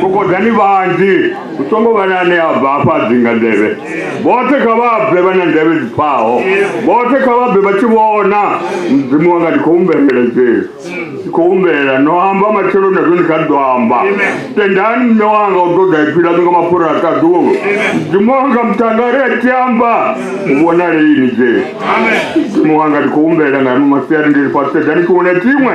kokodani vhanzhi hu songo vha na ane a bva afha a dzinga nḓevhe vhoṱhe kha vha bve vha na nḓevhe dzi pfaho vhoṱhe kha vha bve vha tshi vhona mudzimu wanga ndi khou humbelela jesu ndi khou humbelela no amba matshelo na zwone kha ḓo amba tendani mme wanga u ṱoḓa iphila ḓo nga mapfura a ṱaḓuwo mudzimu wanga mutangari a tshi amba u vhonale ini jesu mudzimu wanga ndi khou humbelela nga ano masiari ndi ri fhasi sedzani tshiṅwe na tshiṅwe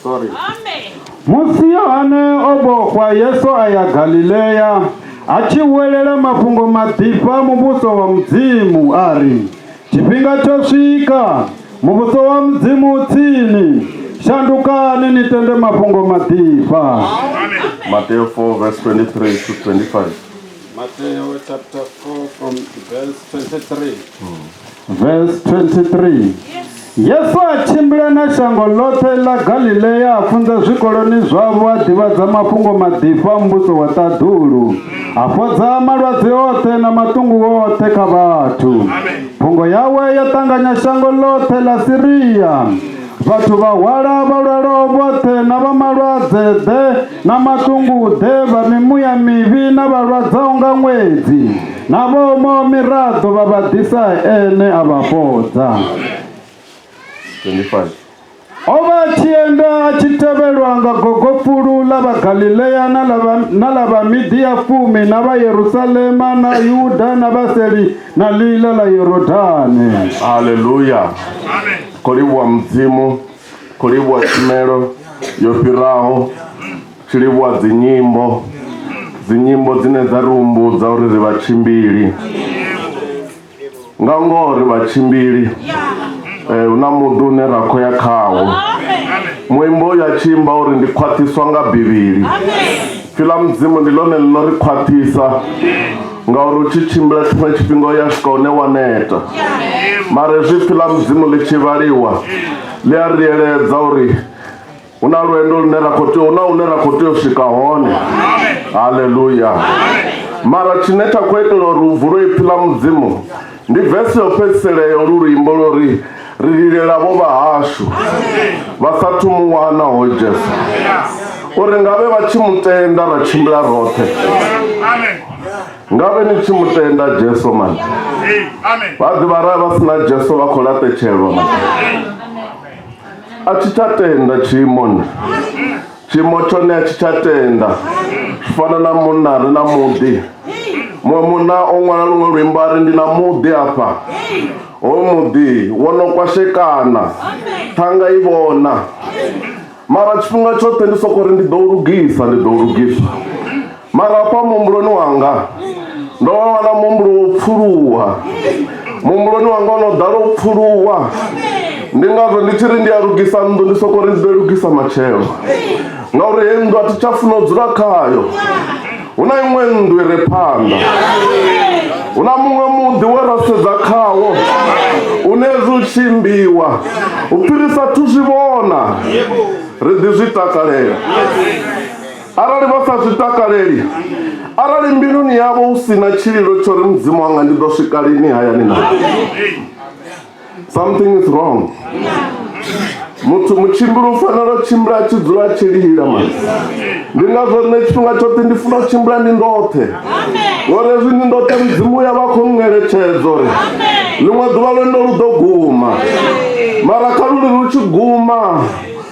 Sorry. Musi Yohane o vhofha, Yesu a ya Galilea a tshi huwelela mafhungo maḓifha muvhuso wa Mudzimu a ri, Tshifhinga tsho swika, muvhuso wa Mudzimu u tsini, shandukani ni tende mafhungo maḓifha. Mateo 4 verse 23 to 25. Mateo chapter 4 from verse 23. Verse 23. Yesu a tshimbila na shango ḽoṱhe ḽa Galilea a funza zwikoloni zwavho a ḓivhadza mafhungo maḓifho a muvhuso wa ṱaḓulu a fhodza malwadze oṱhe na maṱungu oṱhe kha vhathu phungo yawe yo ṱanganya shango ḽoṱhe ḽa Siria vhathu vha hwala vha lwalaho vhoṱhe na vha malwadze ḓe na maṱunguḓe vha mimuya mivhi na vhalwadzaho nga ṅwedzi na vhoomaho miraḓo vha vha ḓisa ene a vha fhodza 25 o vha a tshi enda a tshi tevhelwa nga gogopfulu ḽa vhagalilea na ḽa vha- na ḽa vhamidia fumi na vha yerusalema na yuda na vhaseli na ḽiila ḽa yorodane haleluya khou livhuwa mudzimu khou livhuwa tshumelo yo fhiraho tshi livhuwa dzinyimbo dzinyimbo dzine dza ri humbudza uri ri vhatshimbili nga ngoho ri vhatshimbili eh, hu na muḓi une ra khou ya khawo muimbo uyu a tshi imba uri ndi khwaṱhiswa nga bivhili Pfi ḽa Mudzimu ndi ḽone ḽi no ri khwaṱhisa ngauri u tshi tshimbila tshiṅwe tshifhinga u ya swika hune wa neta mara hezwi pfi ḽa mudzimu ḽi tshi vhaliwa ḽi a ri eledza uri hu na lwendo lune ra khou tea hu na hune ra khou tea u swika hone haleluya mara tshine tsha khou itela uri u vulo ipfi ḽa mudzimu Ndi vesi yo fhedzisela ya olu luimbo lwo ri, Ri lilela vho vhahashu vha sa thu mu wana hoyu Jesu, uri nga vhe vha tshi mu tenda ra tshimbila roṱhe. Nga vhe ni tshi mu tenda Jesu mani. Vha ḓi vha ra vha si na Jesu vha khou laṱetshelwa mani. A thi tsha tenda tshiimoni. tshiimo tshone a tshi tsha tenda zwi fana na munna ri na muḓi muṅwe munna o ṅwala luṅwe luimbo a ri ndi na muḓi afha hoyu muḓi wo no kwashekana ṱhanga i vhona mara tshifhinga tshoṱhe ndi soko ri ndi ḓo lugisa ndi ḓo lugisa mara afha muhumbuloni wanga ndo wana muhumbulo wo pfuluwa muhumbuloni wanga ono ḓala u pfuluwa ndi ngazwo ndi tshi ri ndi a lugisa nnḓu ndi soko ri ndi ḓo lugisa matshelo ngauri he nnḓu a thi tsha funa u dzula khayo hu na iṅwe nnḓu i re phanḓa hu na muṅwe muḓi we ra sedza khawo une zwi tshimbiwa u fhirisa thu zwi vhona ri ḓi zwi takalela arali vha sa zwi takaleli arali mbiluni yavho hu si na tshililo tsho ri mudzimu wanga ndi ḓo swika lini hayani na something is wrong muthu mutshimbili u fanela u tshimbila a tshi dzula a tshi lila ma ndi ngazwo nṋe tshifhinga tshoṱhe ndi funa u tshimbila ndi ndoṱhe ngori hezwi ndi ndoṱhe mudzimu ya vha khou ngeletshedzo ri ḽiṅwe ḓuvha lwendo lu ḓo guma mara kha luli lu tshi guma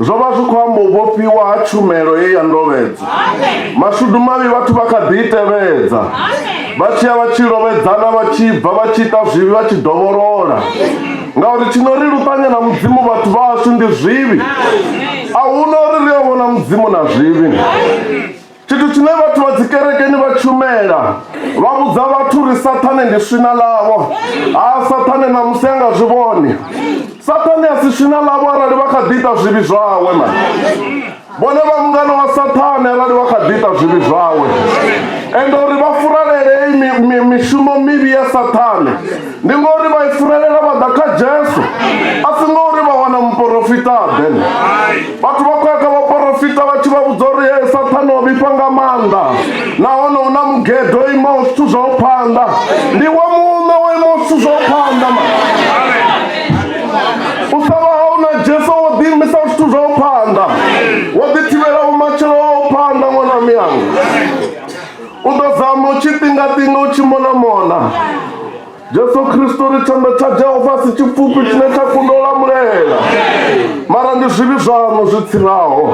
Zwo vha zwi khou amba u vhofhiwa ha tshumelo ye ya ndovhedzwa. Mashudu mavhi vhathu vha kha ḓi i tevhedza, vha tshi ya vha tshi lovhedzana vha tshi bva vha tshi ita zwivhi vha tshi dovholola. Ngauri tshi no ri luṱanya na Mudzimu vhathu vha hashu ndi zwivhi. A hu na uri ri a vhona Mudzimu na zwivhi. tshithu tshine vhathu vha dzikerekeni vha tshumela vha vhudza vhathu uri sathane ndi swina ḽavho ha sathane na musi a nga zwi vhone sathane a si swina ḽavho arali vha kha ḓi ita zwivhi zwawe ma vhone vha mungana wa sathane arali vha kha ḓi ita zwivhi zwawe ende uri vha furalele mishumo mivhi ya sathane ndi ngori vha isirelela vha ḓa kha jesu a si ngori vha wana muporofita then vhathu vha khoya kha vhaporofita vha tshi vha vhudza uri e sathane o vhifha nga maanḓa nahone hu na mugedo o imaho zwithu zwau phanḓa ndi wa muṋe wo imaho zwithu zwau phanḓa ma u sa vha hau na jesu wo ḓiimisa zwithu zwau phanḓa wo ḓi thivhela vhumatshelo wau phanḓa ṅwana miyanga U ḓo zama u tshi ṱingaṱinga u tshi monamona. Jesu Kristo ri tshanḓa tsha Jehova si tshipfufhi tshine tsha kundwa u lamulela. Mara ndi zwivhi zwaṋu zwi tsiraho.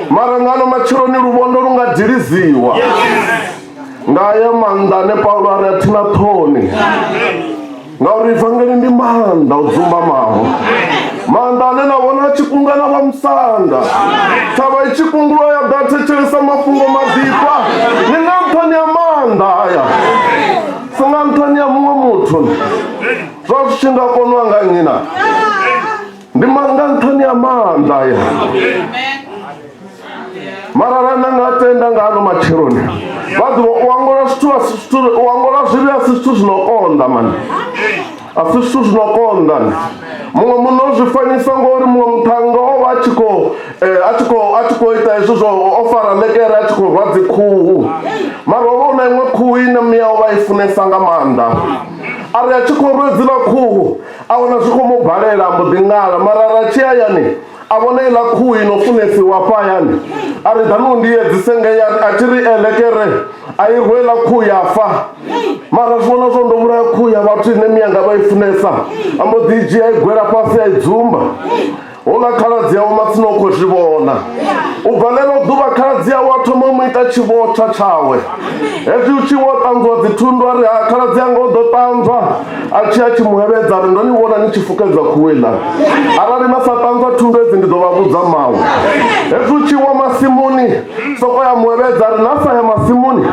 Mara nga ano matsheloni luvhondo lu nga diliziwa. Nga aya maanḓa ane Paulo a ri a thi na ṱhoni. ngauri vangeli ndi maanḓa o dzumbamaho maanḓa ane na vhona a tshi kunga na vha musanda thavha i tshi kungulwa ya ḓa thetshelesa mafhungo maḓifha ni nga nṱhani ya maanḓa aya si nga nṱhani ya muṅwe muthu zwa zwi tshi nga konwa nga nnyi na ndi ma- nga nṱhani ha maanḓa aya mara ra na nga tenda nga ano matsheloni vha ḓivha u angola zwithu a si zwithu u angola zwivhi a si zwithu zwi no konḓa mani a si zwithu zwi no konḓa ni muṅwe muno zwi fanyisa ngori muṅwe muṱhannga o vha a tshi khou eh, a tshi khou a tshi khou ita hezwi zwo o fara ḽekere a tshi khou rwa dzi khuhu mara o vha u na iṅwe khuhu ine mia o vha i funesa nga maanḓa a ri a tshi khou rwa hedzila khuhu A wana zwi khou mu balela, a mbo ḓi ṅala. Mara ra tshi hayani, a vhona iḽa khuhu i no funesiwa hafha hayani. A ri, Ḓani u ndi edzise ngei. A ri, A thi ri ele ke re. A i rwe iḽa khuhu ya fa. Mara zwi vhona zwo ndo vhulaya khuhu ya vhathu ine mianga vha i funesa. A mbo ḓi i dzhia a i gwela fhasi a i dzumba. Hu na khaladzi awe matsina u khou zwi vhona. U bva ḽeḽo ḓuvha khaladzi awe a thoma u mu ita tshivhotsha tshawe. Hezwi hu tshi wo ṱanzwiwa dzithundu a ri, Ha, khaladzi anga o ḓo ṱanzwa. A tshi a tshi mu hevhedza a ri, Ndo ni vhona ni tshi fukedzwa khuhu heiḽani. Arali na sa ṱanzwa thundu hedzi ndi ḓo vha vhudza mawe. Hezwi hu tshi wa masimuni, sokou ya mu hevhedza a ri, Na sa ya masimuni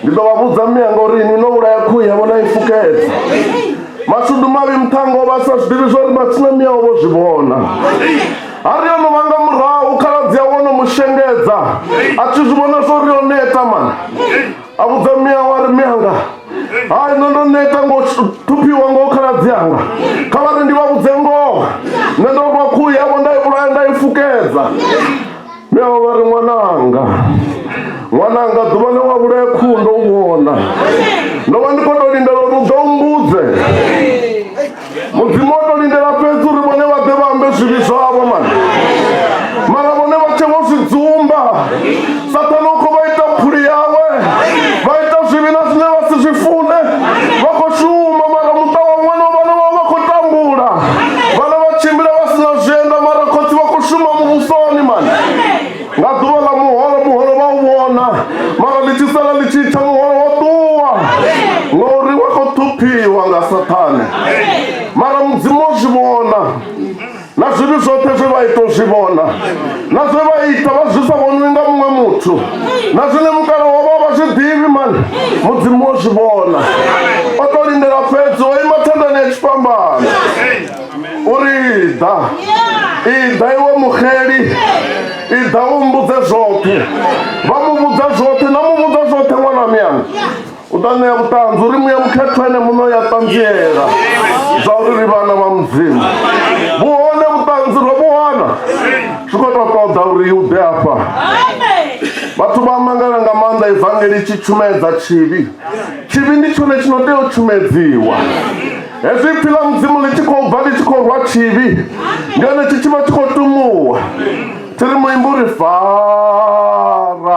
ndi ḓo vha vhudza mianga uri inwi no vhulaya khuhu yavho na i fukedza. mashudu mavhi muthango vha sa zwiḓivhi zwa uri matsina miyao vho zwi vhona a ri ono vhanga murahu khaladzi a wono mu shengedza a tshi zwi vhona zwo ri o neta mani a vhudza miyawe a ri miyanga hai nṋe ndo neta ngo thuphiwa ngo khaladzi anga kha vha ri ndi vha vhudze ngoho nṋe ndo rwa khuhu yavho nda i vhulaya nda i fukedza Neo vha ri ṅwananga ṅwananga ḓuvha ḽe wa vhulaya khuhu ndo u vhona ndo vha ndi khou tou lindela uri u ḓo mbudze mudzimu o tou lindela fhedzi uri vhone vha ḓe vha ambe zwivhi zwavho mani mara vhone vha tshe vho zwi dzumba sathana u khou vha ita phuli yawe vha ita zwivhi na zwine vha si zwi fune vha khou shuma mara muṱa wa ṅwana vhana vha vha khou tambula vhana vha tshimbila vha sina zwienda mara khotsi vha khou shuma muvhusoni mani nga ḓuvha ḽa muholo muholo vha u vhona mara ḽi tshi sala ḽi tshi tsha muholo wo ṱuwa ngauri wa khou ṱhuphiwa nga sathane mara mudzimu o zwi vhona na zwivhi zwoṱhe zwe vha ita u zwi vhona na zwe vha ita vha zwi sa vhoniwi nga muṅwe muthu na zwine mukala wa vha vha zwi ḓivhi mani mudzimu wo zwi vhona o to lindela fhedzi o ima thandani ya tshifhambano uri iḓa iḓa iwe muxeli iḓa u mbudze zwoṱhe vha mu vhudza zwoṱhe na mu vhudza zwoṱhe ṅwana miyanga u ḓo ṋea vhuṱanzi uri muya mukhethwa ene muṋe ya ṱanziela zwa uri ri vhana vha mudzimu vhuhone vhuṱanzi ro vhuwana zwi khou tou ṱoḓa uri u ḓe afha vhathu vha mangala nga maanḓa evangeli tshi tshumedza tshivhi tshivhi ndi tshone tshi no tea u tshumedziwa hezwi pfi ḽa mudzimu ḽi tshi khou bva ḽi tshi khou rwa tshivhi ndi hone tshi tshi vha tshi khou tumuwa thi ri muimbi uri faramba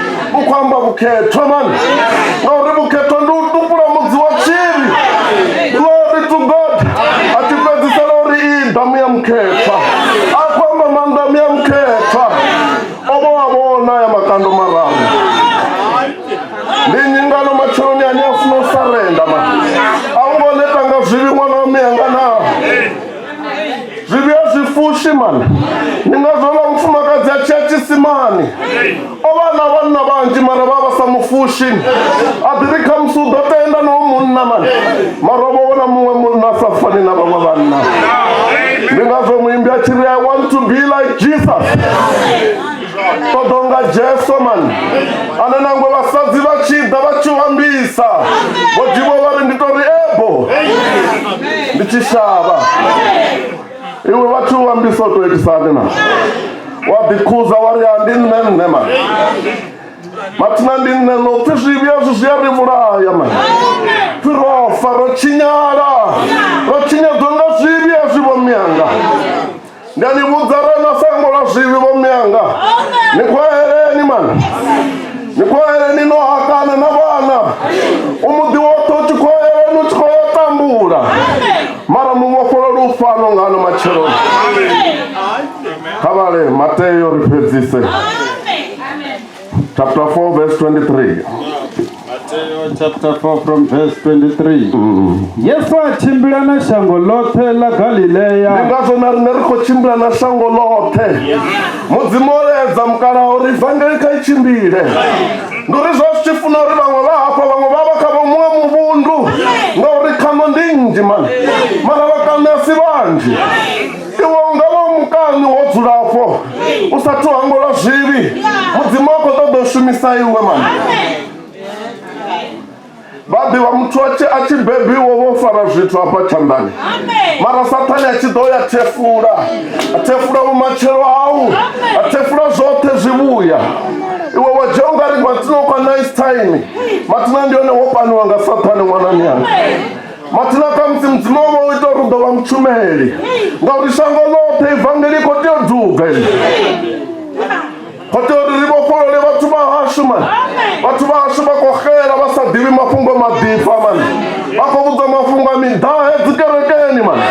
vhu khou amba vhukhethwa mani ngauri vhukhethwa ndi u tupula mudzi wa tshiri glory to god a tshi fhedzisela uri i damu ya mukhethwa a khou amba mandamu ya mukhethwa o vho wa vhona ya makando mararu ndi nyingano matsheloni ane a funa u sarenda ma a u ngo neta nga zwivhi ṅwana wa miyanga naa zvivi hazvifushi mani ni nga vhela mufumakadzi a tshiya tshisimani o vha na vhanna vhanzhi mara vha vha sa mufushi a ḓi ri khamusi u ḓo tenda no munna mani mara o vha wona muṅwe munna a sa fani na vhaṅwe vhanna ndi ngazwo muimbi a tshi ri i want to be like jesus ṱoḓonga jesu man ane nangwe vhasadzi vha tshi ḓa vha tshi ambisa vho divo vha ri ndi to ri ebo ndi tshi shavha iwe vhathu u ambisa u to itisani na wa ḓikhuza wa ri a ndi nṋe nṋe man mathina ndi nṋe no pfi zwivhi azwi zwi a ri vhulaya man pfi ro fa ro tshinyala ro tshinyadzwa nga zwivhi azwi vho miyanga ndi a ni vhudza re na sango ḽa zwivhi vho mianga ni khwaheleni mani ni khwaheleni no hakana na vhana u muḓi woṱhe u tshi khwaheleni u tshi khou ya tambula mara mu vhofholo lu fano nga ano matsheloni kha vhale mateo ri fhedzise chapter 4 verse 23 Mateo chapter 4 from verse 23 yesu a tshimbila na shango ḽoṱhe ḽa ndi galileya ngazwo na riṋe ri khou tshimbila na shango ḽoṱhe mudzimu o laedza mukalaha uri ivangeli kha i tshimbile ndi uri zwa zwi tshi funa uri vhaṅwe vha hafha vhaṅwe vha vha kha vha muṅwe muvhundu ngauri khano ndi nnzhi mani mara vhakane a si vhanzhi iwe u nga vha u mukani wo dzulafho u sa thu hango lwa zwivhi mudzimu a khou ṱoḓa u shumisa iwe mani vhaḓi wa muthu a tshi- a tshi bebiwo vho fara zwithu hafha tshanḓani mara sathane a tshi ḓo ya thefula a thefula vhumatshelo hau a thefula zwoṱhe zwivhuya iwe wa dzhia ungari matsino kwa nice time matsina ndi hone wo paniwa nga sathane ṅwanani yanga mathina kha musi mudzimu wo vha u ita uri u ḓo vha mutshumeli ngauri shango ḽoṱhe ivangeli khou tea u duga khou tea uri ri vhofholole vhathu vha hashu mani vhathu vha hashu vha khou xela vha sa ḓivhi mafhungo maḓifha mani vha khou vhudzwa mafhungo a miḓahe dzikerekeni mani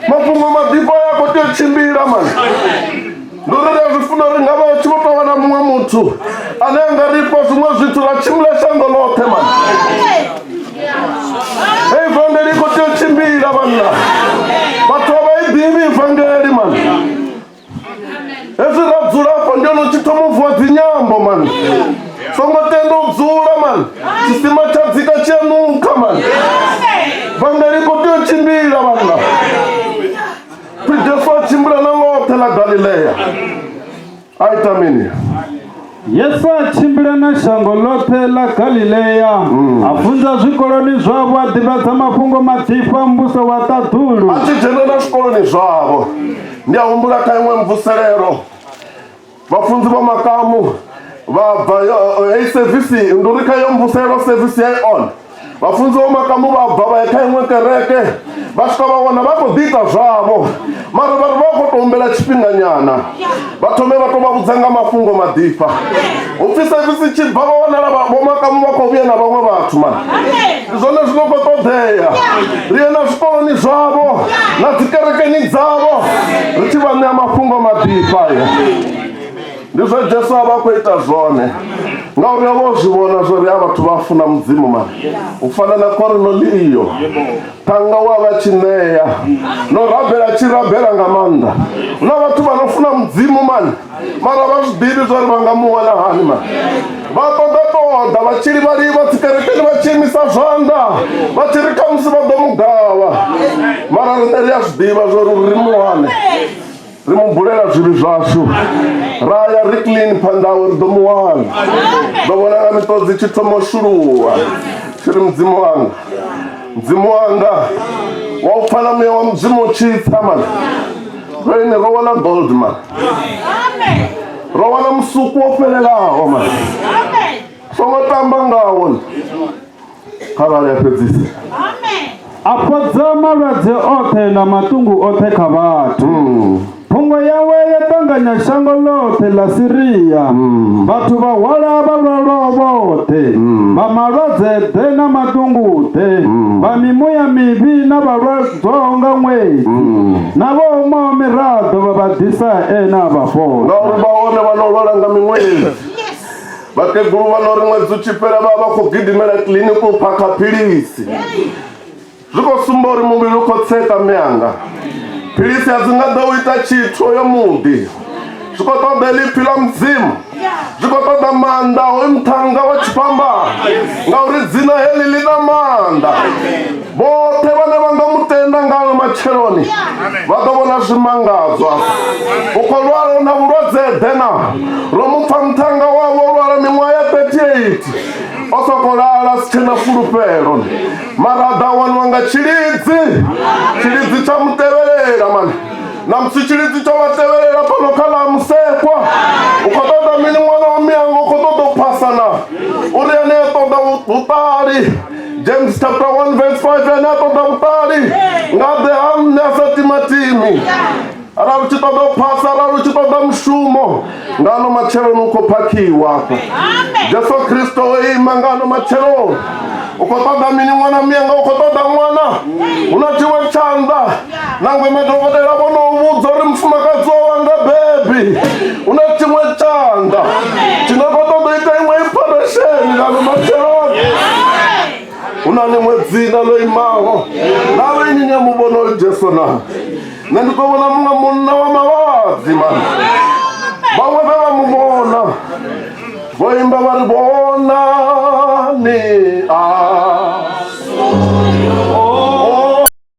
mafhungo maḓifha ya khou tea u tshimbila mani ndo ri ri a zwi funa uri nga vha tshi vho tou wana muṅwe muthu ane a nga ri fha zwiṅwe zwithu ra tshimbila shango ḽoṱhe mani hei vangeli i khou tea u tshimbila vhanna vhathu a vha i ḓivhi vangeli mani hezwi ra dzula afho ndi ono tshi thoma u vuwa dzinyambo mani songo tenda u dzula mani tshisima tsha dzika tshi a nukha mani vangeli i khou tea u tshimbila vhanna Jesu a tshimbila na ḽoṱhe ḽa Galilea a ita mini? Yesu a tshimbila na shango ḽoṱhe ḽa Galilea hmm. a funza zwikoloni zwavho a ḓivhadza mafhungo maḓifha muvhuso wa ṱaḓulu. A tshi dzhenelela zwikoloni zwavho ndi a humbula kha iṅwe mvuselelo vhafunzi vha makamu vha bva heyi sevisi ndi uri kha yo mvuselo sevisi ya on vhafunzi vha makamu vha bva vha ya kha iṅwe kereke vha swika vha wana vha khou ḓiita zwavho mara vhari vha khou to humbela tshifhinganyana vha thome vha to vha vhudza nga mafhungo maḓifha upfhi sevisi tshi bva vha wanala vho makamu vha khou vhuya na vhaṅwe vhathu mani ndi zwone zwi no khou ṱoḓea ri ye na zwikoloni zwavho na dzikerekeni dzavho ri tshi vha ṋea mafhungo maḓifha ya ndi zwe jesu a vha khou ita zwone ngauri o vha o zwi vhona zwo ri a vhathu vha funa mudzimu mani u fana na korinoliyo thanga wa vha tshi ṋea no rabela tshi rabela nga maanḓa na vhathu vha no funa mudzimu mani mara vha muḓivhi zwa ri vha nga mu wana hani ma vha ṱoḓa ṱoḓa vha tshi livhali vha tsikerekeni vha tshi imisa zwanḓa vha tshi ri khamusi vha ḓo mu gavha mara riṋe ri a zwi ḓivha zwa uri ri mu wane ri mu bulela zwivhi zwashu ra ya ri clean phanḓa awe ri ḓo mu wana ḓo vhona nga miṱodzi tshi thoma u shuluwa tshi ri mudzimu wanga mudzimu wanga wa u pfala muya wa mudzimu u tshi tsa mani roine ro wana gold man ro wana musuku wo fhelelaho mani songo tamba ngawo kharali a fhedzisa a fhodza malwadze oṱhe na maṱungu oṱhe kha vhathu Phungo yawe ya ṱanganya shango ḽoṱhe ḽa Siria. Mm. Vhathu vha hwala vha lwalwaho vhoṱhe, mm. vha malwadze ḓe na maḓunguḓe, mm. vha mimuya mivhi na vhalwadzwaho nga ṅwedzi, na vho umaho miraḓo vha vha ḓisa ene a vha fhola. Ngauri vha hone vha no lwala nga miṅwedzi vhakegulu vha no ri ṅwedzi u tshi fhela vha vha khou gidimela kiḽiniki u phakha philisi zwi khou sumba uri muvhili u khou tseṱa mme anga philisi a dzi nga ḓo u ita tshithu yo muḓi zwi khou ṱoḓa lipfi ḽa mudzimu zwi khou ṱoḓa maanḓa hoyu muṱhannga wa tshifhambano ngauri dzina heḽi ḽi na maanḓa vhoṱhe vhane vha nga mutenda ngayo matsheloni vha ḓo vhona zwimangadzwa u khou lwala na vhulwadze ḓe na ro mu pfa muṱhannga wavho lwala miṅwaha ya 38 o sokou lala si tshena fulufhelo mara a ḓa waniwa nga tshilidzi tshilidzi tsha mu tevhelela mani na musi tshilidzi tsho vha tevhelela fhano kha ḽa musekwa u khou ṱoḓa mini ṅwana wa miyango u khou ṱoḓa u phasa na uri ane a ṱoḓa vhuṱali james chapter 1 verse 5 ane a ṱoḓa vhuṱali nga ḓe ha nṋe a sa timatimi arali u tshi ṱoḓa u phasa arali u tshi ṱoḓa mushumo nga ano matsheloni u khou phakhiwa afha jesu kristo o ima nga ano matsheloni u khou ṱoḓa mini ṅwana muyanga u khou ṱoḓa ṅwana hu na tshiwe tshanḓa nangwe madokotela vho no vhudza uri mufumakadzi wa wanga bebi hu na tshiṅwe tshanḓa tshi nga khou ṱoḓa ita iṅwe iphoresheni nga ano matsheloni hu na ḽiṅwe dzina ḽo imaho na vha ini ni a mu vhona oyo jesu na nṋe ndi ḓo vhona muṅwe munna wa mavhadzi mani vhaṅwe vhe vha mu vhona vho imba vha ri vhona ni a